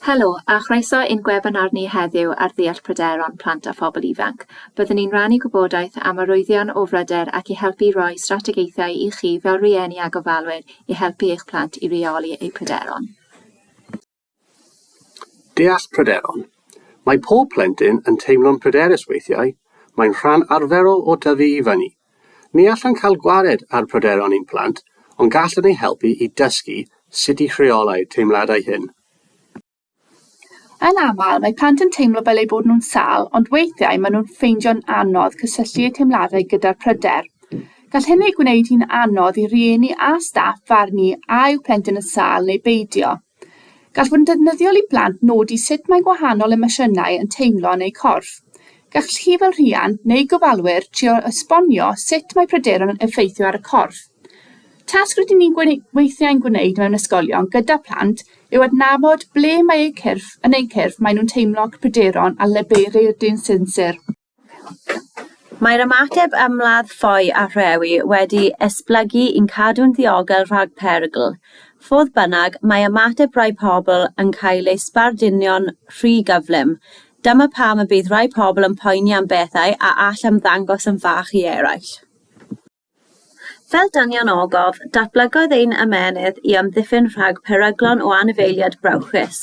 Helo, a chroeso i'n gwebinar ni heddiw ar ddeall pryderon plant a phobl ifanc. Byddwn ni'n rannu gwybodaeth am arwyddion o bryder ac i helpu i roi strategaethau i chi fel rhieni a gofalwyr i helpu eich plant i reoli eu pryderon. Deall pryderon. Mae pob plentyn yn teimlo'n pryderus weithiau, mae'n rhan arferol o dyfu i fyny. Ni allwn cael gwared ar bryderon ein plant, ond gallwn eu helpu i dysgu sut i rheolau'r teimladau hyn. Yn aml, mae plant yn teimlo fel eu bod nhw'n sâl, ond weithiau maen nhw'n ffeindio'n anodd cysylltu eu teimladau gyda'r pryder. Gall hyn ei gwneud hi'n anodd i rieni a staff farnu a yw plentyn yn sâl neu beidio. Gall fod yn defnyddiol i blant nodi sut mae gwahanol emosiynau yn teimlo yn eu corff. Gall chi fel rhiant neu gofalwyr trio esbonio sut mae pryderon yn effeithio ar y corff. Tasg rydyn ni'n gwne- weithiau'n gwneud mewn ysgolion gyda phlant yw adnabod ble mae eu cyrff yn eu cyrff maen nhw'n teimlo pryderon a leferydd dyn sinsir. Mae'r ymateb ymladd ffoi a rhewi wedi esblygu i'n cadw'n ddiogel rhag perygl. Fodd bynnag, mae ymateb rhai pobl yn cael ei sbarduno'n rhy gyflym. Dyma pam y bydd rhai pobl yn poeni am bethau a all ymddangos yn fach i eraill. Fel dynion ogof, datblygodd ein ymennydd i amddiffyn rhag peryglon o anifeiliaid brawychus.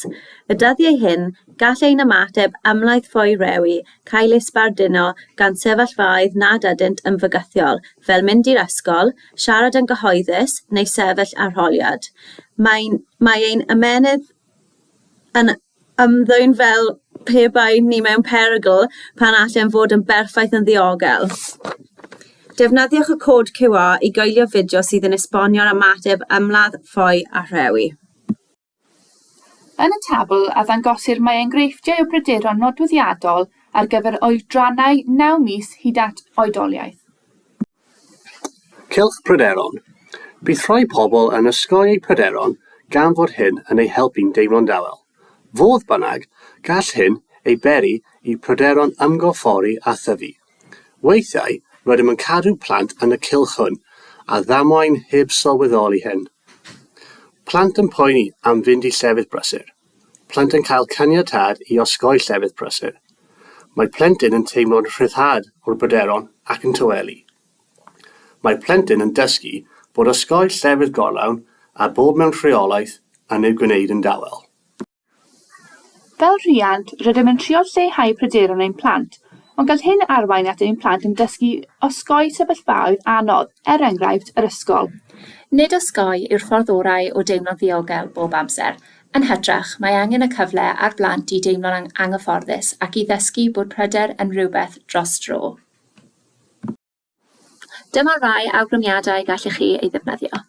Y dyddiau hyn, gall ein ymateb ymlaith ffoi rewi cael ei sbarduno gan sefyllfaoedd nad ydynt yn fygythiol, fel mynd i'r ysgol, siarad yn gyhoeddus, neu sefyll arholiad. Mae'n, mae ein ymennydd yn, ymddwyn fel pe bai ni mewn perygl pan allem fod yn berffaith yn ddiogel. Defnyddiwch y cod QR i goelio fideo sydd yn esbonio'r ymateb ymladd, ffoi a rhewi. Yn y tabl a ddangosir mae enghreifftiau o bryderon nodweddiadol ar gyfer oedrannau naw mis hyd at oedoliaeth. Cylch pryderon, Bydd rhai pobl yn osgoi eu pryderon gan fod hyn yn eu helpu'n deimlo'n dawel. Fodd bynnag, gall hyn ei beri i bryderon ymgorffori a thyfu. Weithiau, rydym yn cadw plant yn y cylch hwn a ddamwain heb sylweddoli hyn. Plant yn poeni am fynd i llefydd brysur. Plant yn cael caniatâd i osgoi llefydd prysur. Mae plentyn yn teimlo'n rhyddhad o'r bryderon ac yn tawelu. Mae plentyn yn dysgu bod osgoi llefydd gorlawn a bod mewn rheolaeth yn eu gwneud yn dawel. Fel rhiant, rydym yn trio lleihau pryderon ein plant, ond gall hyn arwain at ein plant yn dysgu osgoi sefyllfaoedd anodd, er enghraifft, yr ysgol. Nid osgoi yw'r ffordd orau o deimlo'n ddiogel bob amser. Yn hytrach, mae angen y cyfle ar blant i deimlo'n anghyfforddus ac i ddysgu bod pryder yn rhywbeth dros dro. Dyma rai awgrymiadau gallech chi ei ddefnyddio.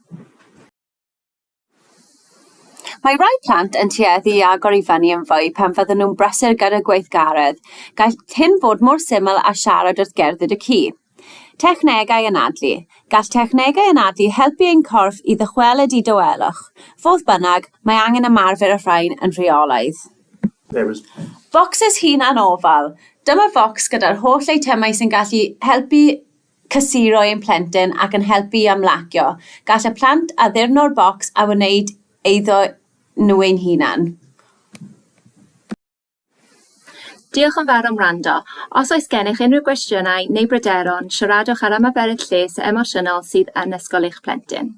Mae rhai plant yn tueddu i agor i fyny yn fwy pan fydden nhw'n brysur gyda gweithgaredd. Gall hyn fod mor syml â siarad wrth gerdded y ci. Technegau Anadlu, Gall technegau anadlu helpu ein corff i ddychwelyd i dawelwch. Fodd bynnag, mae angen ymarfer y rhain yn rheolaidd. Focsys Hunanofal, Dyma focs gyda'r holl eitemau sy'n gallu helpu cysuro ein plentyn ac yn helpu i ymlacio. Gall y plant addurno'r bocs a wneud eiddo nhw ein hunain. Diolch yn fawr am wrando. Os oes gennych unrhyw gwestiynau neu bryderon, siaradwch ar ymarferydd lles emosiynol sydd yn ysgol eich plentyn.